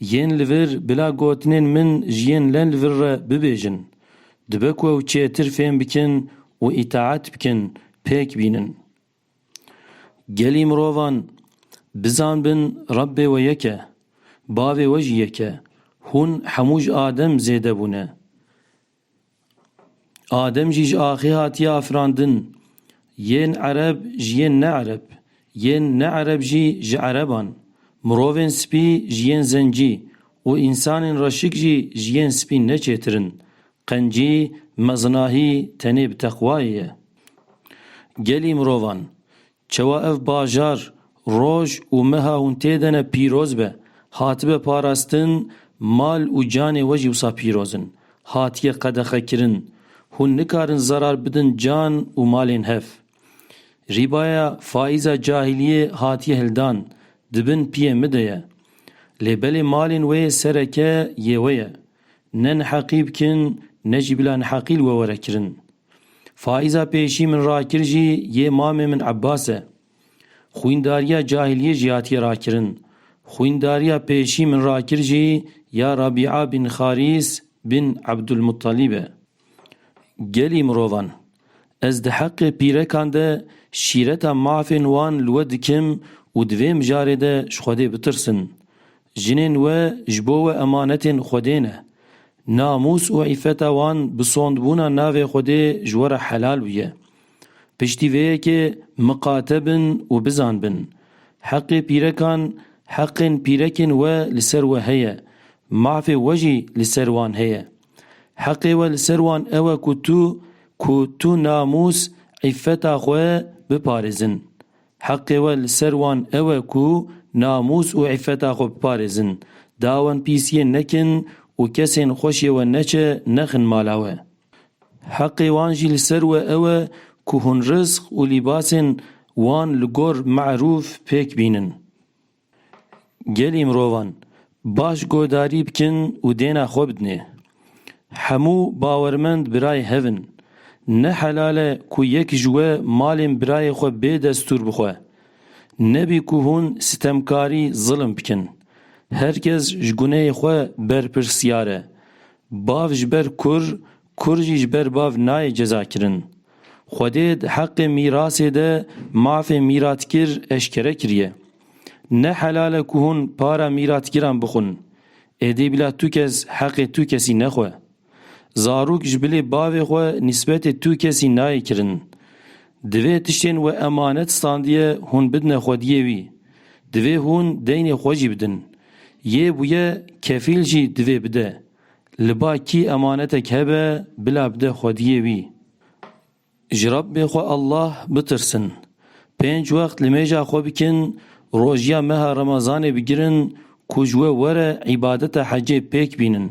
Yên li vir bila gotinên min ji yên le li vir re bibêjin. Dibe ku ew çêtir fêm bikin û îtaet bikin, pêk bînin. Gelî mirovan bizanbin Rebbê we yek e, Bavê we jî yek e, hûn hemû ji Adem zêde bûne. Adem jî ji axê hatiye afirandin. Yên ereb ji yên neereb, yên neereb jî ji ereban, mirovên spî ji yên zencî û însanên reşik jî ji yên spî ne çêtir in. Qencî, mezinahî tenê bi teqwayê ye. Gelî mirovan, Çewa ev bajar, roj û meha hûn tê de ne pîroz be, hatibe parastin, mal û canê we jî wisa pîroz in, hatiye qedexekirin, hûn nikarin zerar bidin can û malên hev. Rîbaya faîza cahiliyê hatiye hildan, di bin piyê min de ye. Lê belê malên wê yê sereke yê we ye. Ne neheqî bikin, ne jî bila neheqî li we were kirin. Faiza pêşî min rakir jî yê mamê min Ebbas e. Xwîndariya cahiliyê jî hatiye rakirin. Xwîndariya pêşî min rakir jî ya Rabîa bin Xarîs bin Ebdulmuttalîb e. Gelî mirovan. Ez di heqê pîrekan de şîreta mafên wan li we dikim û di vê mijarê de ji Xwedê bitirsin. Jinên we ji bo we emanetên Xwedê ne. Namûs û îfeta wan bi sondbûna navê Xwedê ji we re helal bûye. Piştî vê yekê miqate bin û bizan bin. Heqê pîrekan heqên pîrekên we li ser we heye, mafê we jî li ser wan heye. Heqê we li ser wan ew e ku tu ku tu namûs îfeta xwe biparêzin. Heqê we li ser wan ew e ku namûs û îffeta xwe biparêzin, dawên pîs yên nekin û kesên xweşê we neçe nexin mala we. Heqê wan jî li ser we ew e ku hûn rizq û lîbasên wan li gor me'rûf pêk bînin. Gelê mirovan baş guhdarî bikin û dêna xwe bidinê. Hemû bawermend birayê hev in. Ne helal e ku yek ji we malên birayê xwe bê destûr bixwe. Nebî ku hûn sitemkarî zilim bikin. Her kes ji guneyê xwe berpirsyar e. Bav ji ber kur Kurd jî ji ber bav nayê cezakirin. Xwedê di heqê mîrasê de mafê mîratkir eşkere kiriye. Ne helal e ku hûn para mîratkiran bixwin. Êdî bila tu kes heqê tu kesî nexwe. Zarok ji bilê bavê xwe nîsbetê tu kesî nayê kirin. Divê tiştên we emanet standiye hûn bidine xwediyê wî. Divê hûn deynê xwe jî bidin. Yê bûye kefîl jî divê bide. Li ba kî emanetek hebe bila bide xwediyê wî. Ji Rabbê xwe Allah bitirsin. Pênc wext li mêja xwe bikin, rojiya meha Remezanê bigirin ku ji we were îbadeta hecê pêk bînin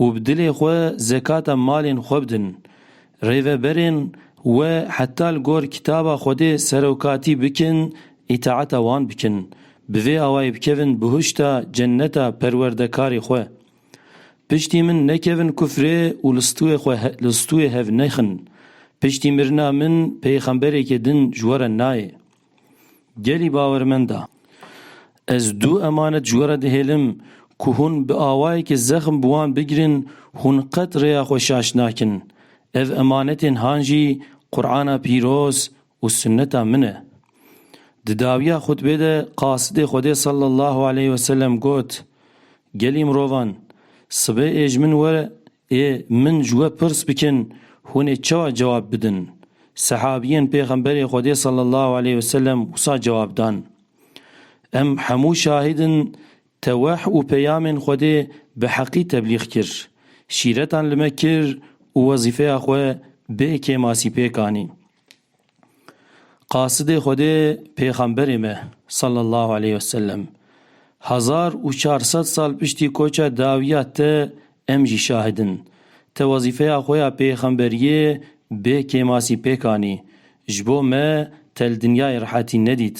û bi dilê xwe zekata malên xwe bidin. Rêveberên we heta li gor kitaba Xwedê serokatî bikin, îtaeta wan bikin. Bi vê awayê bikevin bihuşta, cenneta, perwerdekarê xwe. Piştî min nekevin kufrê û li stûyê xwe li stûyê hev nexin. Piştî mirina min peyxemberekî din ji we re nayê. Gelî bawermend e. Ez du emanet ji we re dihêlim ku hûn bi awayekî zexm bi wan bigirin, hûn qet rêya xwe şaş nakin. Ev emanetên han jî Qur'ana pîroz û sunneta min e. Di dawiya xutbê de Qasidê Xwedê sallallahu aleyh ve sellem got, Gelî mirovan, sibê ê ji min were ê min ji we pirs bikin hûn ê çawa cewab bidin? Sehabiyên Pêxemberê Xwedê sallallahu aleyh ve sellem wisa cewab dan, Em hemû şahîd in te weh û peyamên Xwedê bi heqî teblîx kir, şîretan li me kir û wezîfeya xwe bê kêmasî pêk anî. Qasidê Xwedê Pêxemberê me sallallahu aleyh ve sellem hezar û çar sed sal piştî koça dawiya te em jî şahid in. Te wezîfeya xwe ya pêxemberiyê bê kêmasî pêk anî. Ji bo me te li dinyayê rehetî nedît.